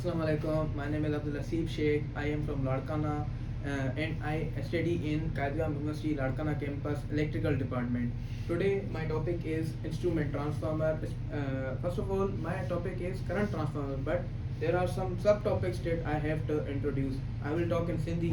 اسلام عليڪم my name is Abdul Haseeb Shaikh I am from Larkana and I study in Quaid e Awam university Larkana campus electrical department today my topic is instrument transformer first of all my topic is current transformer but there are some sub topics that I have to introduce I will talk in Sindhi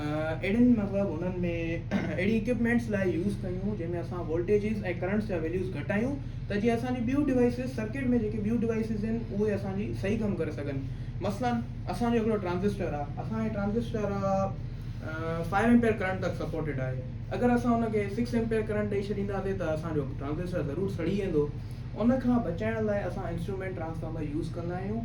اهڙين مطلب انهن ۾ اهڙي equipments لاء use ڪيون جنهن ۾ اسان voltages ۽ currents جا values گهٽايون ته جيئن اسان جي ٻيون ڊوائسز سرڪٽ ۾ جيڪي ٻيون ڊوائسز آهن اهي اسان جي صحيح ڪم ڪري سگهن مثلاً اسان جو هڪڙو ٽرانزسٽر آهي اسان جي ٽرانزسٽر فائيو ايمپيئر ڪرنٽ تڪ سپورٽيڊ آهي اگر اسان ان کي سڪس ايمپيئر ڪرنٽ ڏئي ڇڏينداسين ته اسان جو ٽرانزسٽر ضرور سڙي ويندو ان کان بچائڻ لاء اسان انسٽرومينٽ ٽرانسفارمر يوز ڪندا آهيون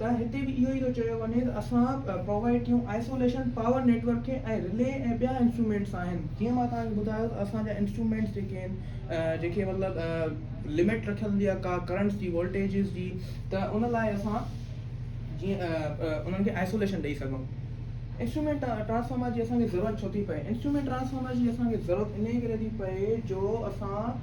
ته هتي به اهو ئي ٿو چيو وڃي ته اسان پرووائيڊ ٿيون آئسوليشن پاور نيٽ ورڪ کي ۽ رلي ۽ ٻيا انسٽرومينٽس آهن جيئن مان توهان کي ٻڌايو ته اسان جا انسٽرومينٽس جيڪي آهن جنهن کي مطلب لمٽ رکيل هوندي آهي ڪا ڪرنٽس جي وولٽيجز جي ته ان لاء اسان جيئن انهن کي آئسوليشن ڏئي سگهون انسٽرومينٽ ٽرانسفارمر جي اسان کي ضرورت ڇو ٿي پئي انسٽرومينٽ ٽرانسفارمر جي اسان کي ضرورت انهي ڪري ٿي پئي جو اسان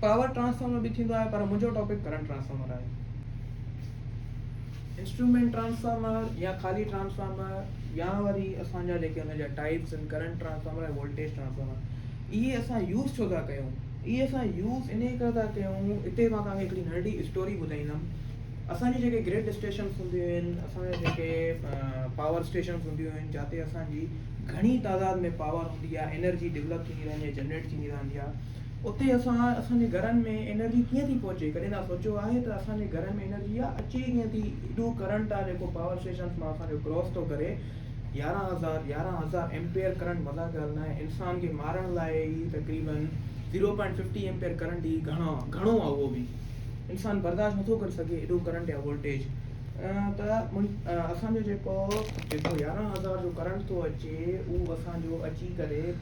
پاور ٽرانسفارمر به ٿيندو آهي پر منهنجو ٽاپڪ ڪرنٽ ٽرانسفارمر آهي. انسٽرومينٽ ٽرانسفارمر يا خالي ٽرانسفارمر يا وري اسان جا جيڪي ان جا ٽائيپس آهن ڪرنٽ ٽرانسفارمر ۽ وولٽيج ٽرانسفارمر اهي اسان يوز ڇو ٿا ڪيون اهي اسان يوز انهي ڪري ٿا ڪيون اتي مان تان کي هڪڙي ننڍڙي اسٽوري ٻڌائيندم اسان جي جيڪي گرڊ اسٽيشنس هونديون آهن اسان جا جيڪي پاور اسٽيشنس هونديون آهن جاتي اسان جي گهڻي تعداد ۾ پاور هوندي آهي انرجي ڊولپ ٿيندي رهندي آهي جنريٽ ٿيندي رهندي آهي اتي اسان اسان جي گهرن ۾ انرجي ڪيئن ٿي پهچي ڪڏهن تان سوچيو آهي ته اسان جي گهرن ۾ انرجي آ اچي ڪيئن ٿي ايڏو ڪرنٽ آ جيڪو پاور اسٽيشنس مان اسان جو ڪراس ٿو ڪري يارهن هزار يارهن هزار ايمپيئر ڪرنٽ مذاق جي ڳالهه ناهي انسان کي مارڻ لاء هي تقريبن zero point fifty ampere current هي گهڻو گهڻو آ اهو به انسان برداشت نٿو ڪري سگهي ايڏو ڪرنٽ يا وولٽيج ته اسان جو جيڪو جيڪو يارهن هزار جو ڪرنٽ ٿو اچي اهو اسان جو اچي ڪري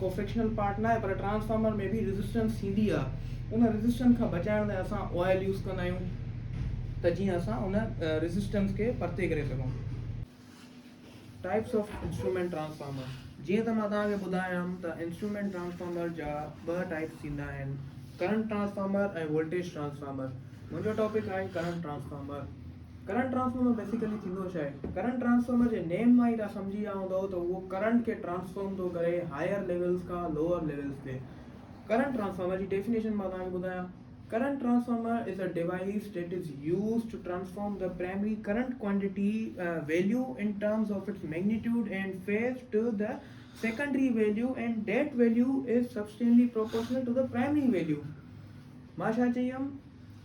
ڪو فڪشنل پارٽ ناهي پر ٽرانسفارمر ۾ به ريزسٽنس ٿيندي آ ان ريزسٽنس کان بچائڻ لاء اسان آئل يوز ڪندا آهيون ته جيئن اسان ان ريزسٽنس کي پرتي ڪري سگهون ٽائپس آف انسٽرومينٽ ٽرانسفارمر جيئن ته مان توهان کي ٻڌايم ته انسٽرومينٽ ٽرانسفارمر جا ٻه ٽائپس ٿيندا آهن ڪرنٽ ٽرانسفارمر ۽ وولٽيج ٽرانسفارمر منهنجو ٽاپڪ آهي current transformer current transformer basically ٿيندو ڇا آهي؟ ڪرنٽ ٽرانسفارمر جي نيم مان ئي توهان سمجهي ويا هوندؤ ته اهو ڪرنٽ کي ٽرانسفارم ٿو ڪري هائير ليولز کان لوئر ليولز تي. ڪرنٽ ٽرانسفارمر جي ڊيفينيشن مان توهان کي ٻڌايان. Current transformer is a device that is used to transform the primary current quantity, value, in terms of its magnitude and phase to the secondary value and that value is substantially proportional to the primary value. مان ڇا چئي ويم؟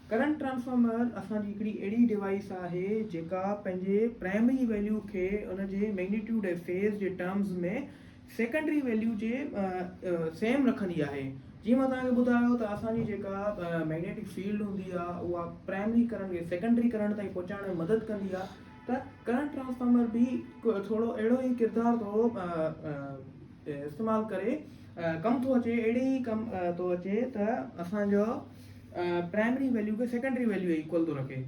Current transformer اسان جي هڪڙي اهڙي device آهي جيڪا پنهنجي پرائمري ويليو کي ان جي ميگنيٽيوڊ ۽ فيز جي ٽرمز ۾ سيڪنڊري ويليو جي سيم رکندي آهي جيئن مان توهان کي ٻڌايو ته اسان جي جيڪا ميگنيٽڪ فيلڊ هوندي آهي اها پرائمري ڪرنٽ کي سيڪنڊري ڪرنٽ تائين پهچائڻ ۾ مدد ڪندي آهي ته ڪرنٽ ٽرانسفارمر به ٿورو اهڙو ئي ڪردار ٿو استعمال ڪري ڪم ٿو اچي اهڙي ئي ڪم ٿو اچي ته اسان جو پرائمري ويليو کي سيڪنڊري ويليو جي ايڪول ٿو رکي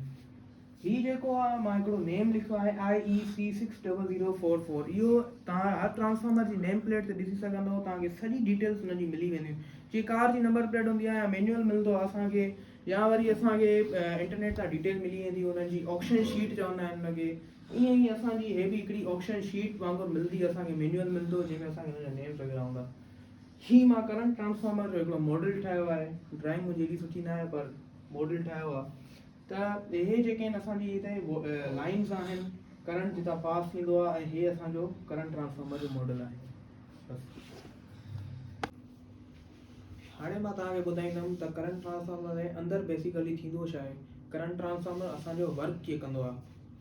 هي جيڪو آ مان هڪڙو نيم لکيو آهي IEC 60044 اهو توهان هر ٽرانسفارمر جي نيم پليٽ تي ڏسي سگهندو توهان کي سڄي ڊيٽيلز ان جي ملي وينديون جي ڪار جي نمبر پليٽ هوندي آهي يا مينيول ملندو آهي اسان کي يا وري اسان کي انٽرنيٽ تان ڊيٽيل ملي ويندي ان جي آڪشن شيٽ چوندا آهن ان کي ائين ئي اسان جي هي به هڪڙي آڪشن شيٽ وانگر ملندي اسان کي مينيول ملندو جنهن ۾ اسان کي ان جا نيمز وغيره هوندا هي مان ڪرنٽ ٽرانسفارمر جو هڪڙو ماڊل ٺاهيو آهي ڊرائنگ منهنجي ايڏي سٺي ناهي پر ماڊل ٺاهيو آهي ته اهي جيڪي آهن اسان جي هتي لائنز آهن ڪرنٽ جتان پاس ٿيندو آهي ۽ هي اسان جو ڪرنٽ ٽرانسفارمر جو ماڊل آهي هاڻي مان توهان کي ٻڌائيندم ته ڪرنٽ ٽرانسفارمر ۾ اندر بيسيڪلي ٿيندو ڇا آهي ڪرنٽ ٽرانسفارمر اسان جو ورڪ ڪيئن ڪندو آهي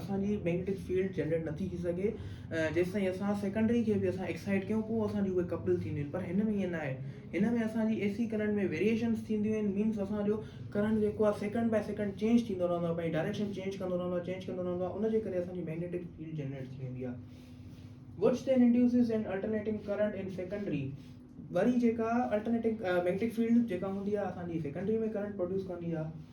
اسان جي مئگنيٽڪ فيلڊ جنريٽ نه ٿي ٿي سگهي جيستائين اسان سيڪنڊري کي به اسان ايڪسائيٽ ڪيون پوء اسان جي اهي ڪپل ٿينديون آهن پر هن ۾ ائين ناهي هن ۾ اسان جي اي سي ڪرنٽ ۾ ويريئيشنس ٿينديون آهن مينس اسان جو ڪرنٽ جيڪو آهي سيڪنڊ بائي سيڪنڊ چينج ٿيندو رهندو آهي پنهنجي ڊائريڪشن چينج ڪندو رهندو آهي چينج ڪندو رهندو آهي ان جي ڪري اسان جي مئگنيٽڪ فيلڊ جنريٽ ٿي ويندي آهي which then induces and alternating current in secondary وري جيڪا الٽرنيٽنگ مئگنيٽڪ فيلڊ جيڪا هوندي آهي اسان جي سيڪنڊري ۾ ڪرنٽ پروڊيوس ڪندي آهي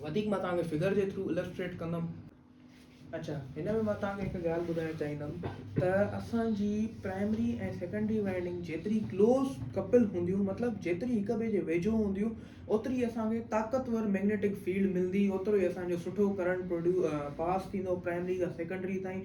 وڌيڪ مان توهان کي فگر جي ٿرو السٽريٽ ڪندم. اڇا هن ۾ مان توهان کي هڪ ڳالهه ٻڌائڻ چاهيندم ته اسان جي پرائمري ۽ سيڪنڊري وائنڊنگ جيتري ڪلوز ڪپل هونديون مطلب جيتري هڪ ٻئي جي ويجهو هونديون اوتري اسان کي طاقتور ميگنيٽڪ فيلڊ ملندي اوترو ئي اسان جو سٺو ڪرنٽ پاس ٿيندو پرائمري کان سيڪنڊري تائين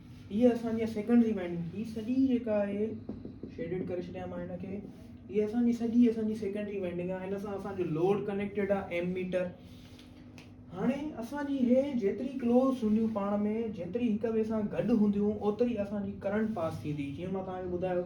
هيء اسان جي سيڪنڊري مينڊنگ ٿي سڄي جيڪا آهي شيڊڊ ڪري ڇڏيان مان هن کي هيء اسان جي سڄي اسان جي سيڪنڊري مينڊنگ آهي هن سان اسان جو لوڊ ڪنيڪٽيڊ آهي ايم ميٽر هاڻي اسان جي هي جيتري ڪلوز هونديون پاڻ ۾ جيتري هڪ ٻئي سان گڏ هونديون اوتري اسان جي ڪرنٽ پاس ٿيندي جيئن مان توهان کي ٻڌايو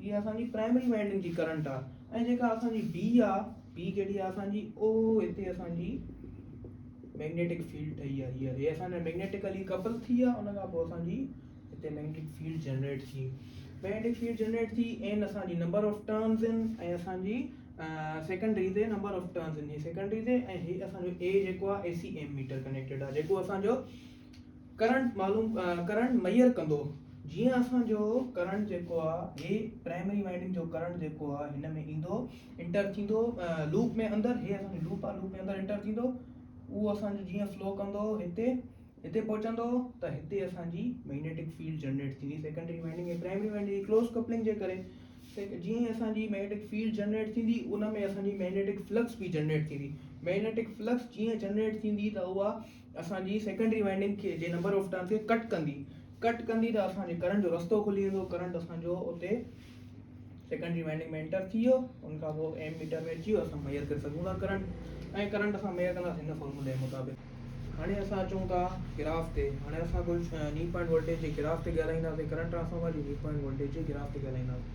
هيء اسان جي پرائمري وائنڊنگ جي ڪرنٽ آهي ۽ جيڪا اسان جي بي آهي، بي ڪهڙي آهي اسان جي، او هتي اسان جي ميگنيٽڪ فيلڊ ٺهي آهي هيء، هيء اسان جا ميگنيٽڪلي ڪپل ٿي آهي ان کان پوء اسان جي هتي ميگنيٽڪ فيلڊ جنريٽ ٿي، ميگنيٽڪ فيلڊ جنريٽ ٿي، N اسان جي نمبر آف ٽرنز آهن ۽ اسان جي سيڪنڊري تي نمبر آف ٽرنز آهن هيء سيڪنڊري تي ۽ هيء اسان جو A جيڪو آهي اي سي ايميٽر ڪنيڪٽيڊ آهي جيڪو اسان جو ڪرنٽ معلوم ڪرنٽ ميئر ڪندو جيئن اسان جو ڪرنٽ جيڪو آ هي پرائمري وائنڊنگ جو ڪرنٽ جيڪو آ هن ۾ ايندو انٽر ٿيندو لوپ ۾ اندر هي اسان جو لوپ آ لوپ ۾ اندر انٽر ٿيندو اهو اسان جو جيئن فلو ڪندو هتي هتي پهچندو ته هتي اسان جي ميگنيٽڪ فيلڊ جنريٽ ٿيندي سيڪنڊري وائنڊنگ ۽ پرائمري وائنڊنگ جي ڪلوز ڪپلنگ جي ڪري جيئن ئي اسان جي ميگنيٽڪ فيلڊ جنريٽ ٿيندي ان ۾ اسان جي ميگنيٽڪ فلڪس به جنريٽ ٿيندي ميگنيٽڪ فلڪس جيئن جنريٽ ٿيندي ته اها اسان جي سيڪنڊري وائنڊنگ کي جي نمبر آف ٽرنس کي ڪٽ ڪندي ڪٽ ڪندي ته اسان جي ڪرنٽ جو رستو کلي ويندو ڪرنٽ اسان جو اتي سيڪنڊري وائنڊنگ ۾ انٽر ٿي ويو ان کان پوء ايم ميٽر ۾ اچي ويو اسان ميئر ڪري سگهون ٿا ڪرنٽ ۽ ڪرنٽ اسان ميئر ڪنداسين هن فارمولي مطابق هاڻي اسان اچون ٿا گراف تي هاڻي اسان ڪجهه ني پوائنٽ وولٽيج جي گراف تي ڳالهائينداسين ڪرنٽ ٽرانسفارمر جي ني پوائنٽ وولٽيج جي گراف تي ڳالهائينداسين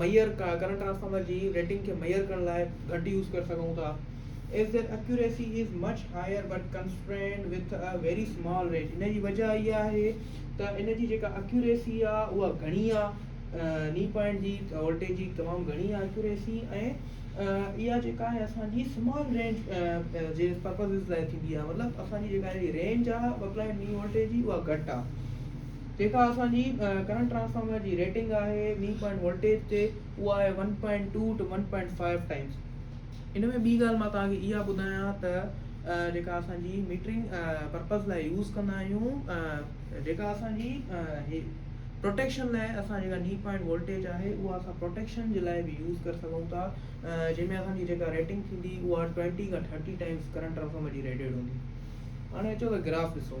ميئر ڪرنٽ ٽرانسفارمر جي ريٽنگ کي ميئر ڪرڻ لاء گهٽ يوز ڪري سگهون ٿا as there accuracy is much higher but constrained with a very small range ان جي وجهه اها آهي ته ان جي جيڪا اڪيوريسي آهي اها گهڻي آهي ني پوائنٽ جي وولٽيج جي تمام گهڻي آهي اڪيوريسي ۽ اها جيڪا آهي اسانجي اسمال رينج جي پرپزز لاء ٿيندي آهي مطلب اسانجي جيڪا رينج آهي ٻه پوائنٽ ني وولٽيج جي اها گهٽ آهي جيڪا اسان جي ڪرنٽ ٽرانسفارمر جي ريٽنگ آهي ني پوائنٽ وولٽيج تي اها آهي one point two to one point five times ان ۾ ٻي ڳالهه مان توهان کي اها ٻڌايان ته جيڪا اسان جي ميٽرنگ پرپز لاء يوز ڪندا آهيون جيڪا اسان جي پروٽيڪشن لاء اسان جيڪا ني پوائنٽ وولٽيج آهي اها اسان پروٹيڪشن جي لاء بي يوز ڪري سگهون ٿا جنهن ۾ اسان جي جيڪا ريٽنگ ٿيندي اها ٽوينٽي کان ٿرٽي ٽائمس ڪرنٽ ٽرانسفارمر جي ريٽيڊ هوندي هاڻي اچو ته گراف ڏسو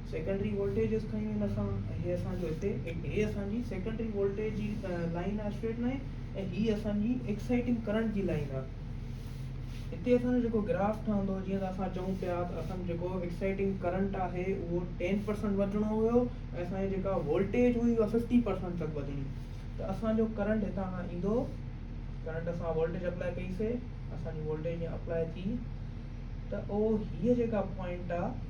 سيڪنڊري وولٽيجز کنيون ان کان ۽ هي اسان جو هتي هي اسان جي سيڪنڊري وولٽيج جي لائين آهي اسٽريٽ لائين ۽ هي اسان جي ايڪسائيٽنگ ڪرنٽ جي لائين آهي هتي اسان جو جيڪو گراف ٺهندو جيئن ته اسان چئون پيا ته اسان جو جيڪو ايڪسائيٽنگ ڪرنٽ آهي اهو ٽين پرسنٽ وڌڻو هيو ۽ اسان جي جيڪا وولٽيج هئي اها ففٽي پرسنٽ تڪ وڌڻي ته اسان جو ڪرنٽ هتان کان ايندو ڪرنٽ اسان وولٽيج اپلائي ڪئي سي اسان جي وولٽيج اپلائي ٿي ته اهو هيء جيڪا پوائنٽ آهي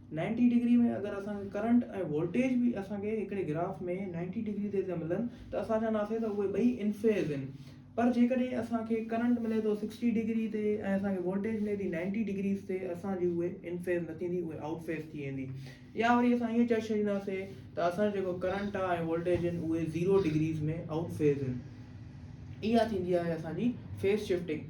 نائنٽي ڊگري ۾ اگر اسان کي ڪرنٽ ۽ وولٽيج به اسان کي هڪڙي گراف ۾ نائنٽي ڊگري تي ٿا ملن ته اسان چونداسين ته اهي ٻئي ان فيز آهن پر جيڪڏهن اسان کي ڪرنٽ ملي ٿو سڪسٽي ڊگري تي ۽ اسان کي وولٽيج ملي ٿي نائنٽي ڊگريز تي اسان جي اهي ان فيز نه ٿيندي اهي آئوٽ فيز ٿي ويندي يا وري اسان ائين چئي ڇڏينداسين ته اسان جيڪو ڪرنٽ آهي ۽ وولٽيج آهن اهي زيرو ڊگريز ۾ آئوٽ فيز آهن اها ٿيندي آهي اسان جي phase shifting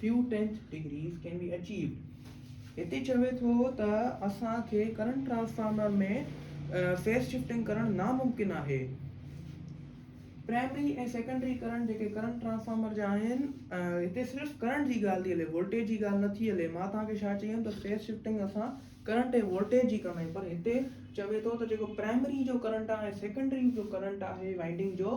Few tenth degrees can be achieved هتي چوي ٿو ته اسان کي ڪرنٽ ٽرانسفارمر ۾ فيز شفٽنگ ڪرڻ ناممڪن آهي. پرائمري ۽ سيڪنڊري ڪرنٽ جيڪي ڪرنٽ ٽرانسفارمر جا آهن هتي صرف ڪرنٽ جي ڳالهه ٿي هلي وولٽيج جي ڳالهه نه ٿي هلي مان توهان کي ڇا چيم ته فيز شفٽنگ اسان ڪرنٽ ۽ وولٽيج جي ڪندا آهيون پر هتي چوي ٿو ته جيڪو پرائمري جو ڪرنٽ آهي ۽ سيڪنڊري جو ڪرنٽ آهي وائنڊنگ جو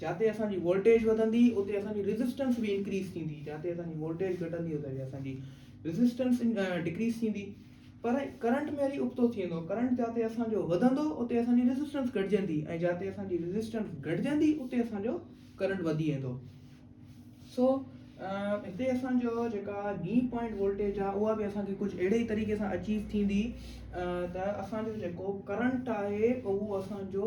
جاتي اسان جي وولٽيج وڌندي اتي اسان جي ريزسٽنس به انڪريز ٿيندي جاتي اسان جي وولٽيج گهٽندي اتي اسان جي ريزسٽنس ڊڪريز ٿيندي پر ڪرنٽ ۾ وري ابتو ٿي ويندو ڪرنٽ جاتي اسان جو وڌندو اتي اسان جي ريزسٽنس گهٽجندي ۽ جاتي اسان جي ريزسٽنس گهٽجندي اتي اسان جو ڪرنٽ وڌي ويندو سو هتي اسان جو جيڪا ني پوائنٽ وولٽيج آ اها به اسان کي ڪجهه اهڙي ئي طريقي سان اچيو ٿيندي ته اسان جو جيڪو ڪرنٽ آهي اهو اسان جو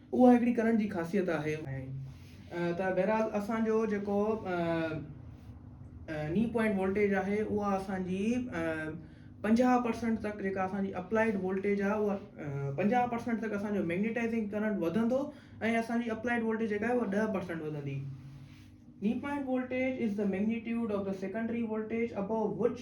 اها هڪڙي ڪرڻ جي خاصيت آهي. ته بهرحال اسان جو جيڪو ني پوائنٽ وولٽيج آهي اها اسان جي پنجاهه پرسنٽ تڪ جيڪا اسان جي اپلائيڊ وولٽيج آهي اها پنجاهه پرسنٽ تڪ اسان جو ميگنيٽائزنگ ڪرنٽ وڌندو ۽ اسان جي اپلائيڊ وولٽيج جيڪا آهي اها ڏهه پرسنٽ وڌندي knee point voltage is the magnitude of the secondary voltage above which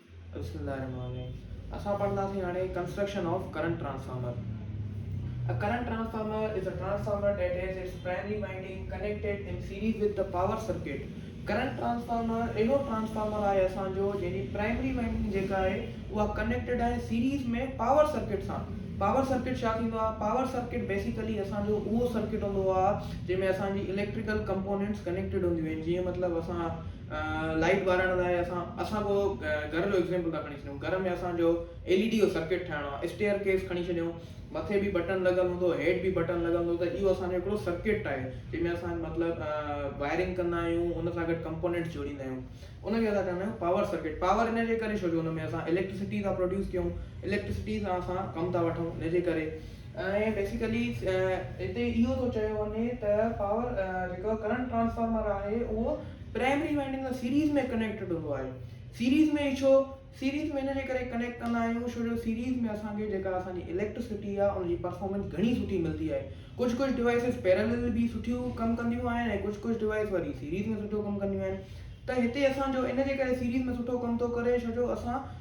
بسم الله الرحمن الرحيم اسان پڙهنداسين هاڻي construction of current transformer A current transformer is a transformer that has its primary winding connected in series with the power circuit. Current transformer اهڙو transformer آهي اسان جو جنهن جي پرائمري وائنڊنگ جيڪا آهي اها ڪنيڪٽيڊ آهي سيريز ۾ پاور سرڪٽ سان پاور سرڪٽ ڇا ٿيندو آهي پاور سرڪٽ بيسيڪلي اسان جو اهو سرڪٽ هوندو آهي جنهن ۾ اسان جي اليڪٽريڪل ڪمپونينٽس ڪنيڪٽيڊ هونديون آهن جيئن مطلب اسان لائٽ ٻارڻ لاء اسان اسان ڪو گهر جو ايگزيمپل ٿا کڻي ڇڏيون گهر ۾ اسانجو ايل اي ڊي جو سرڪٽ ٺاهڻو آ اسٽيئر ڪيس کڻي ڇڏيو مٿي بي بٽڻ لڳل هوندو هيٺ بي بٽڻ لڳل هوندو ته اهو اسانجو هڪڙو سرڪٽ آهي جنهن ۾ اسان مطلب وائرنگ ڪندا آهيون ان سان گڏ ڪمپونينٽس جوڙيندا آهيون ان کي اسان چوندا آهيون پاور سرڪٽ پاور ان جي ڪري ڇو جو ان ۾ اسان اليڪٽرسٽي ٿا پروڊيوس ڪيون اليڪٽرسٽي سان اسان ڪم ٿا وٺون ان جي ڪري ۽ بيسيڪلي هتي اهو ٿو چيو وڃي ته پاور جيڪو ڪرنٽ ٽرانسفارمر آهي اهو پرائمري وائنڊنگ سان سيريز ۾ ڪنيڪٽيڊ هوندو آهي سيريز ۾ ڇو سيريز ۾ ان جي ڪري ڪنيڪٽ ڪندا آهيون شو جو سيريز ۾ اسانکي جيڪا اسانجي اليڪٽرسٽي آهي ان جي پرفارمنس گهڻي سٺي ملندي آهي ڪجهه ڪجهه ڊوائسز پيرلل به سٺيون ڪم ڪنديون آهن ۽ ڪجهه ڪجهه ڊوائس وري سيريز ۾ سٺو ڪم ڪنديون آهن ته هتي اسانجو ان جي ڪري سيريز ۾ سٺو ڪم ٿو ڪري شو جو اسان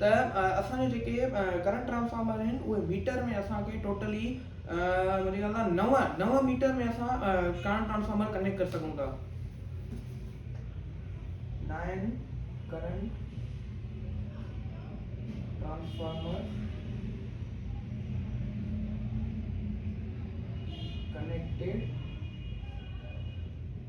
ته اسان جا جيڪي ڪرنٽ ٽرانسفارمر آهن اهي ميٽر ۾ اسان کي ٽوٽلي منهنجي خيال سان نو نو ميٽر ۾ اسان ڪرنٽ ٽرانسفارمر ڪنيڪٽ ڪري سگهون ٿا nine current transformer connected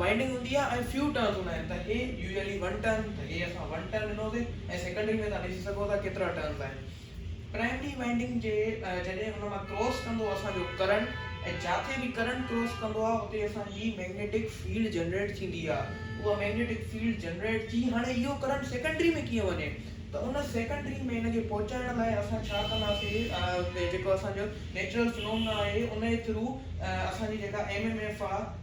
winding هوندي آهي ۽ فيو ٽرنز هوندا آهن ته هي يوزلي ون ٽرن ته هي اسان ون ٽرن ڏنو سي ۽ سيڪنڊري ۾ توهان ڏسي سگهو ٿا ڪيترا ٽرنز آهن پرائمري وائنڊنگ جي جڏهن ان مان ڪراس ڪندو اسان جو ڪرنٽ ۽ جاتي به ڪرنٽ ڪراس ڪندو آهي اتي اسان جي ميگنيٽڪ فيلڊ جنريٽ ٿيندي آهي اها ميگنيٽڪ فيلڊ جنريٽ ٿي هاڻي اهو ڪرنٽ سيڪنڊري ۾ ڪيئن وڃي ته ان سيڪنڊري ۾ ان کي پهچائڻ لاء اسان ڇا ڪنداسي جيڪو اسان جو نيچرل فنومنا آهي ان جي ٿرو اسان جي جيڪا ايم ايم ايف آهي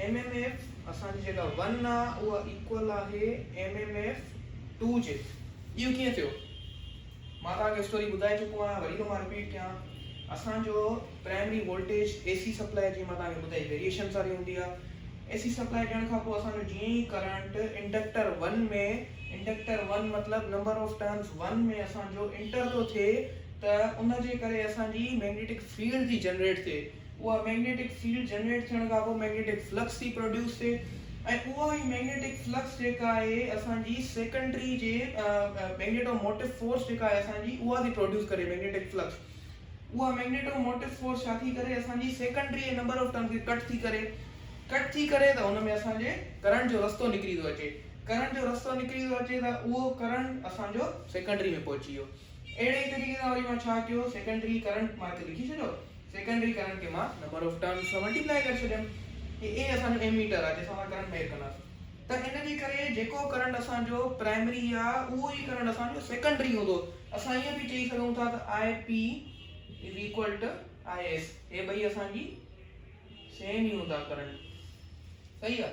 ايم ايم ايف اسان جي جيڪا ون آ اها ايڪول آهي ايم ايم ايف ٽو جي. اهو ڪيئن ٿيو؟ مان توهان کي اسٽوري ٻڌائي چڪو آهيان وري ٿو مان رپيٽ ڪيان اسان جو primary voltage A C supply جيئن مان توهان کي ٻڌائي ويريئيشنز واري هوندي آ اي سي سپلائي ڏيڻ کان پوء اسان جو جيئن ئي current inductor one ۾ inductor one مطلب نمبر آف ٽرنس ون ۾ اسان جو انٽر ٿو ٿئي ته ان جي ڪري اسان جي ميگنيٽڪ فيلڊ ٿي جنريٽ ٿئي اها مئگنيٽڪ فيلڊ جنريٽ ٿيڻ کان پوء مئگنيٽڪ فلڪس ٿي پروڊيوس ٿئي ۽ اها ئي مئگنيٽڪ فلڪس جيڪا آهي اسان جي سيڪنڊري جي مئگنيٽو موٽو فورس جيڪا آهي اسان جي اها ٿي پروڊيوس ڪري مئگنيٽڪ فلڪس اها مئگنيٽو موٽو فورس ڇا ٿي ڪري اسان جي سيڪنڊري جي نمبر آف ٽرنس کي ڪٽ ٿي ڪري ڪٽ ٿي ڪري ته ان ۾ اسان جي ڪرنٽ جو رستو نڪري ٿو اچي ڪرنٽ جو رستو نڪري ٿو اچي ته اهو ڪرنٽ اسان جو سيڪنڊري ۾ پهچي ويو اهڙي طريقي سان وري مان ڇا ڪيو سيڪنڊري ڪرنٽ مان هتي لکي ڇڏيو سيڪنڊري ڪرنٽ کي مان نمبر آف ٽرنس سان ملٽيپلائي ڪري ڇڏيم ۽ اي اسان جو ايميٽر آهي جنهن سان اسان ڪرنٽ ميئر ڪنداسين ته ان جي ڪري جيڪو ڪرنٽ اسان جو پرائمري آهي اهو ئي ڪرنٽ اسان جو سيڪنڊري هوندو اسان ائين به چئي سگهون ٿا ته I P is equal to I S هي ٻئي اسان جي سيم ئي هوندا ڪرنٽ صحيح آهي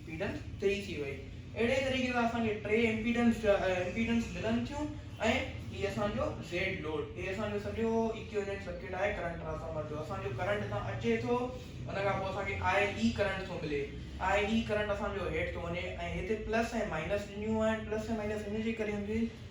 امپيڊنس تري ٿي وئي. اهڙي طريقي سان اسان کي ٽي امپيڊنس جا امپيڊنس ملن ٿيون ۽ هي اسان جو زيڊ لوڊ هي اسان جو سڄو ايڪويلنٽ سرڪٽ آهي ڪرنٽ ٽرانسفارمر جو اسان جو ڪرنٽ هتان اچي ٿو ان کان پوء اسان کي آء اي ڪرنٽ ٿو ملي آء اي ڪرنٽ اسان جو هيٺ ٿو وڃي ۽ هتي پلس ۽ مائنس ڏنيون آهن پلس ۽ مائنس ان جي ڪري هونديون آهن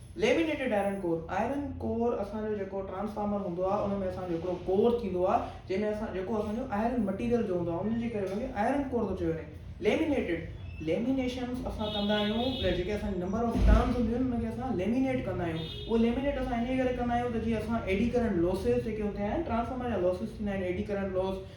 laminated iron core, iron core اسان جو جيڪو ٽرانسفارمر هوندو آهي ان ۾ اسان جو هڪڙو ڪور ٿيندو آهي جنهن ۾ اسان جيڪو اسان جو آئرن مٽيريل جو هوندو آهي ان جي ڪري ان کي آئرن ڪور ٿو چيو وڃي. ليمينيٽڊ، ليمينيشنس اسان ڪندا آهيون ته جيڪي اسان جي نمبر آف ٽرنز هونديون آهن ان کي اسان ليمينيٽ ڪندا آهيون اهو ليمينيٽ اسان انهيء ڪري ڪندا آهيون ته جيئن اسان ايڊي ڪرنٽ لوسز جيڪي هوندا آهن ٽرانسفارمر جا لوسز ٿيندا آهن ايڊي ڪرنٽ لوس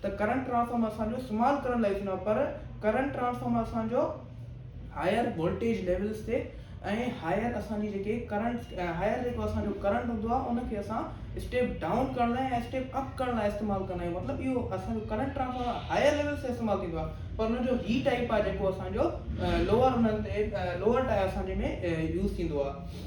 ته ڪرنٽ ٽرانسفارمر اسان جو استعمال ڪرڻ لاء ٿيندو آهي پر ڪرنٽ ٽرانسفارمر اسان جو هائر وولٽيج ليولس تي ۽ هائر اسان جي جيڪي ڪرنٽ هائر جيڪو اسان جو ڪرنٽ هوندو آهي ان کي اسان اسٽيپ ڊائون ڪرڻ لاء ۽ اسٽيپ اپ ڪرڻ لاء استعمال ڪندا آهيون مطلب اهو اسان جو ڪرنٽ ٽرانسفارمر هائر ليولس تي استعمال ٿيندو آهي پر ان جو هي ٽائپ آهي جيڪو اسان جو لوور انهن تي لوور ٽائر اسان جي ۾ يوز ٿيندو آهي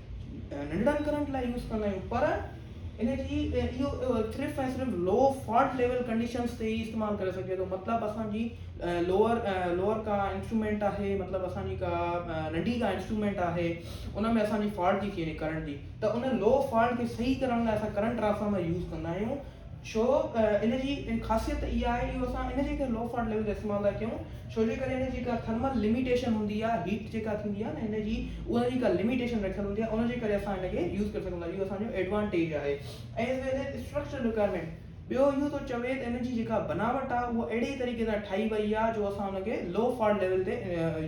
ننڍڙن ڪرنٽ لاء يوز ڪندا آهيون پر ان جي اهو صرف ۽ صرف لو فالٽ ليول ڪنڊيشنس تي ئي استعمال ڪري سگهجي ٿو مطلب اسانجي لوور لوور ڪا انسٽرومينٽ آهي مطلب اسانجي ڪا ننڍي ڪا انسٽرومينٽ آهي ان ۾ اسانجي فالٽ ٿي ٿي وڃي ڪرنٽ جي ته ان لو فالٽ کي صحيح ڪرڻ لاء اسان ڪرنٽ ٽرانسفارمر يوز ڪندا آهيون ڇو ان جي خاصيت اها آهي اهو اسان ان جي ڪري لو فاٽ ليول جو استعمال ٿا ڪيون ڇو جي ڪري ان جي ڪا ٿرمل لميٽيشن هوندي آهي هيٽ جيڪا ٿيندي آهي نه ان جي ان جي ڪا لميٽيشن رکيل هوندي آهي ان جي ڪري اسان ان کي يوز ڪري سگهون ٿا اهو اسانجو ايڊوانٽيج آهي ۽ as well as structure requirement ٻيو اهو ٿو چوي ته ان جي جيڪا بناوٽ آهي اهو اهڙي طريقي سان ٺاهي وئي آهي جو اسان ان کي لو فاٽ ليول تي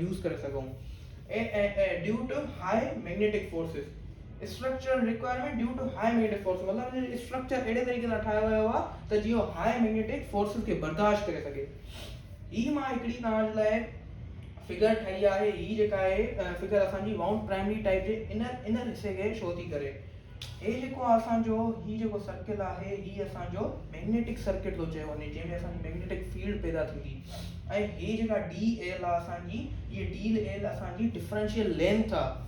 يوز ڪري سگهون due to high magnetic forces structural requirement due to high magnetic forces مطلب ان جو اسٽرڪچر اهڙي طريقي سان ٺاهيو ويو آهي ته جيئن اهو هاء ميگنيٽڪ فورسز کي برداشت ڪري سگهي هي مان هڪڙي توهان جي لاء فگر ٺاهي آهي هي جيڪا آهي فگر اسان جي وائونڊ پرائمري ٽائپ جي انر انر حصي کي شو ٿي ڪري هي جيڪو آهي اسان جو هي جيڪو سرڪل آهي هي اسان جو ميگنيٽڪ سرڪٽ ٿو چيو وڃي جنهن ۾ اسان جي ميگنيٽڪ فيلڊ پيدا ٿيندي ۽ هي جيڪا ڊي ايل آهي اسان جي هي ڊيل ايل اسان جي ڊفرنشل لينٿ آهي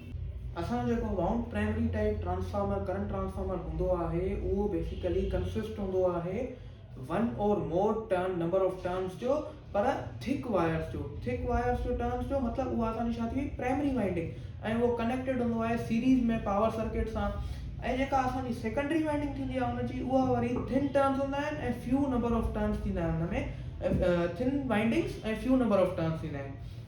اسان جو جيڪو mount primary type transformer current transformer هوندو آهي اهو بيسيڪلي ڪنسسٽ هوندو آهي one or more turn number of turns جو پر ٿڪ وائرس جو ٿڪ وائرس جو ٽرنس جو مطلب اها اسان جي ڇا ٿي وئي پرائمري وائنڊنگ ۽ اهو ڪنيڪٽيڊ هوندو آهي سيريز ۾ پاور سرڪٽ سان ۽ جيڪا اسان جي سيڪنڊري وائنڊنگ ٿيندي آهي ان جي اها وري ٿن ٽرنس هوندا آهن ۽ فيو نمبر آف ٽرنس ٿيندا آهن ان ۾ thin windings ۽ few number of turns ٿيندا آهن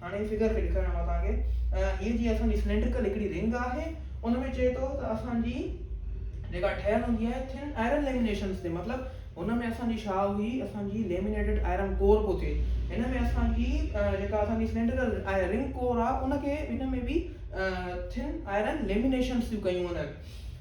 هاڻي هي فگر کي ڏيکاريان مان توهان کي هي جي اسان جي سلينڊرڪل هڪڙي رنگ آهي ان ۾ چئي ٿو ته اسان جي جيڪا ٺهيل هوندي آهي ٿن آئرن ليمينيشنس تي مطلب هن ۾ اسان جي ڇا هئي اسان جي ليمينيٽيڊ آئرن ڪور پيو ٿئي هن ۾ اسان جي جيڪا اسان جي سلينڊرڪل رنگ ڪور آهي ان کي هن ۾ به ٿن آئرن ليمينيشنس ٿيون ڪيون وڃن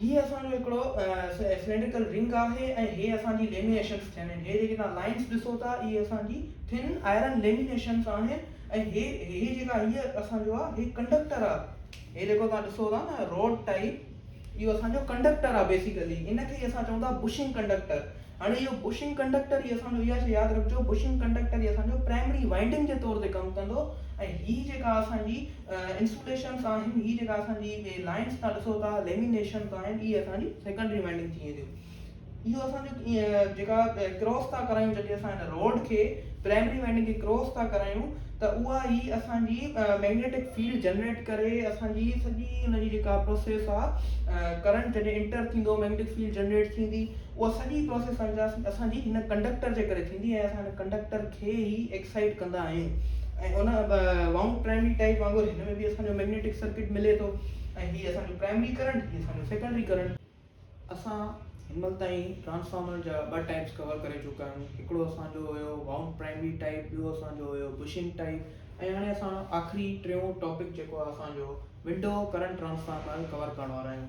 هي اسان جو هڪڙو سلينڊرڪل رنگ آهي ۽ هي اسان جي ليمينيشنس ٿين آهن هي جيڪي توهان لائنس ڏسو ٿا اهي اسان جي ٿن آئرن ليمينيشنس آهن ۽ هي هي جيڪا هي اسان جو آهي هي ڪنڊڪٽر آهي هي جيڪو توهان ڏسو ٿا نه روڊ ٽائيپ اهو اسان جو ڪنڊڪٽر آهي بيسيڪلي ان کي اسان چئون ٿا بشنگ ڪنڊڪٽر هاڻي اهو بوشنگ ڪنڊڪٽر ئي اسان جو اها شيء ياد رکجو بوشنگ ڪنڊڪٽر ئي اسان جو پرائمري وائنڊنگ جي طور تي ڪم ڪندو ۽ هي جيڪا اسان جي انسوليشنس آهن هي جيڪا اسان جي اهي لائنس تهان ڏسو ٿا ليمينيشنس آهن اهي اسان جي سيڪنڊري وائنڊنگ ٿي وينديون اهو اسان جو جيڪا ڪراس ٿا ڪرايون جڏهن اسان هن روڊ کي پرائمري وائنڊنگ کي ڪراس ٿا ڪرايون ته اها ئي اسان جي ميگنيٽڪ فيلڊ جنريٽ ڪري اسان جي سڄي ان جي جيڪا پروسيس آهي ڪرنٽ جڏهن انٽر ٿيندو ميگنيٽڪ فيلڊ جنريٽ ٿيندي اها سڄي پراسيس سمجهياسين ته اسان جي هن ڪنڊڪٽر جي ڪري ٿيندي ۽ اسان هن ڪنڊڪٽر کي ئي ايڪسائيٽ ڪندا آهيون ۽ ان وائونڊ پرائمري ٽائيپ وانگر هن ۾ به اسان جو ميگنيٽڪ سرڪٽ ملي ٿو ۽ هي اسان جو پرائمري ڪرنٽ هي اسان جو سيڪنڊري ڪرنٽ. اسان هن مهل تائين ٽرانسفارمر جا ٻه ٽائيپس ڪور ڪري چڪا آهيون هڪڙو اسان جو هيو وائونڊ پرائمري ٽائيپ ٻيو اسان جو هيو بشنگ ٽائيپ ۽ هاڻي اسان آخري ٽيون ٽاپڪ جيڪو آهي اسان جو ونڊو ڪرنٽ ٽرانسفارمر ڪور ڪرڻ وارا آهيون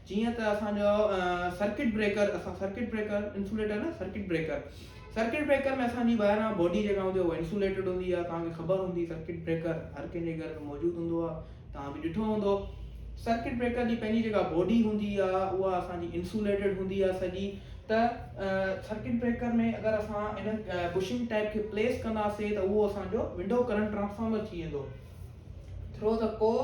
جيئن ته اسان جو سرڪٽ بريڪر اسان سرڪٽ بريڪر انسوليٽر نه سرڪٽ بريڪر سرڪٽ بريڪر ۾ اسان جي ٻاهران باڊي جيڪا هوندي اهو انسوليٽيڊ هوندي آهي توهان کي خبر هوندي سرڪٽ بريڪر هر ڪنهن جي گهر ۾ موجود هوندو آهي توهان به ڏٺو هوندو سرڪٽ بريڪر جي پنهنجي جيڪا باڊي هوندي آهي اها اسان جي انسوليٽيڊ هوندي آهي سڄي ته سرڪٽ بريڪر ۾ اگر اسان ان بشنگ ٽائپ کي پليس ڪنداسي ته اهو اسان جو ونڊو ڪرنٽ ٽرانسفارمر ٿي ويندو ٿرو دا ڪور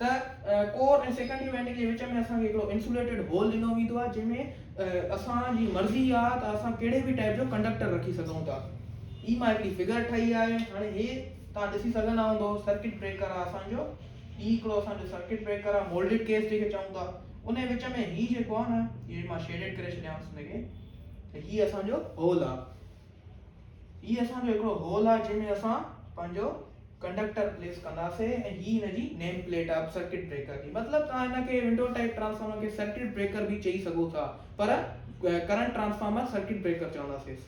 ته ڪور ۽ سيڪنڊ ايونٽ جي وچ ۾ اسان کي هڪڙو انسوليٽيڊ هول ڏنو ويندو آهي جنهن ۾ اسان جي مرضي آهي ته اسان ڪهڙي به ٽائيپ جو ڪنڊڪٽر رکي سگهون ٿا هي مان هڪڙي فگر ٺاهي آهي هاڻي هي توهان ڏسي سگهندا هوندو سرڪٽ بريڪر آهي اسان جو هي هڪڙو اسان جو سرڪٽ بريڪر آهي مولڊيڊ ڪيس جنهن کي چئون ٿا ان جي وچ ۾ هي جيڪو آهي نه هي مان شيڊيڊ ڪري ڇڏيانس هن کي ته هي اسان جو هول آهي هي اسان جو هڪڙو هول آهي جنهن ۾ اسان پنهنجو ڪنڊڪٽر پليس ڪنداسين ۽ هي هن جي name plate of circuit breaker جي مطلب توهان هن کي ونڊو ٽائيپ ٽرانسفارمر کي سرڪٽ بريڪر به چئي سگهو ٿا پر ڪرنٽ ٽرانسفارمر سرڪٽ بريڪر چونداسيس.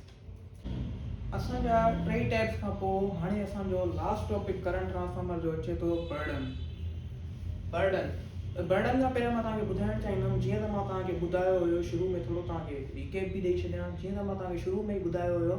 اسان جا ٽئي ٽيپس کان پوء هاڻي اسان جو لاسٽ ٽاپڪ ڪرنٽ ٽرانسفارمر جو اچي ٿو برڊن برڊن برڊن کان پهريان مان توهان کي ٻڌائڻ چاهيندم جيئن ته مان توهان کي ٻڌايو هيو شروع ۾ ٿورو توهان کي ريڪيپ به ڏئي ڇڏيان جيئن ته مان توهان کي شروع ۾ ئي ٻڌايو هيو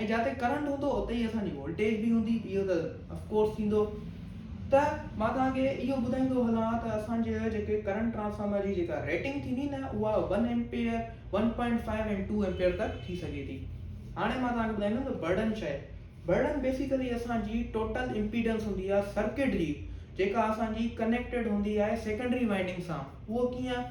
۽ جاتي ڪرنٽ هوندو اتي ئي اسان جي وولٽيج به هوندي اهو ته اف ڪورس ٿيندو ته مان توهان کي اهو ٻڌائيندو هلان ته اسان جي جيڪي ڪرنٽ ٽرانسفارمر جي جيڪا ريٽنگ ٿيندي نه اها one ampere one point five and two ampere تڪ ٿي سگهي ٿي هاڻي مان توهان کي ٻڌائيندم ته برڊن شايد برڊن بيسيڪلي اسان جي ٽوٽل امپيڊنس هوندي آهي سرڪٽ جي جيڪا اسان جي ڪنيڪٽيڊ هوندي آهي سيڪنڊري وائنڊنگ سان اهو ڪيئن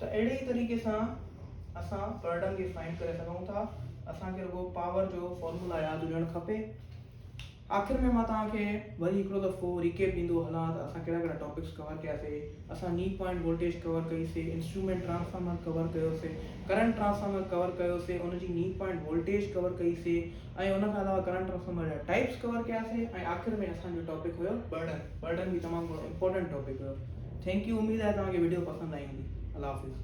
ته اهڙي ئي طريقي سان اسان پرڊم کي فائنڊ ڪري سگهون ٿا اسان کي رڳو پاور جو فارمولا ياد هجڻ کپي آخر ۾ مان توهان کي وري هڪڙو دفعو ريڪيپ ڏيندو هلان ته اسان ڪهڙا ڪهڙا ٽاپڪس ڪور ڪيا سي اسان ني پوائنٽ وولٽيج ڪور ڪئي سي انسٽرومينٽ ٽرانسفارمر ڪور ڪيو سي ڪرنٽ ٽرانسفارمر ڪور ڪيو سي ان جي ني پوائنٽ وولٽيج ڪور ڪئي سي ۽ ان کان علاوه ڪرنٽ ٽرانسفارمر جا ٽائيپس ڪور ڪياسي ۽ آخر ۾ اسان جو ٽاپڪ هيو برڊن برڊن به تمام گهڻو امپورٽنٽ ٽاپڪ هيو ٿينڪ يو اميد آهي توهان کي وڊيو پسند آئي هوندي الله حافظ.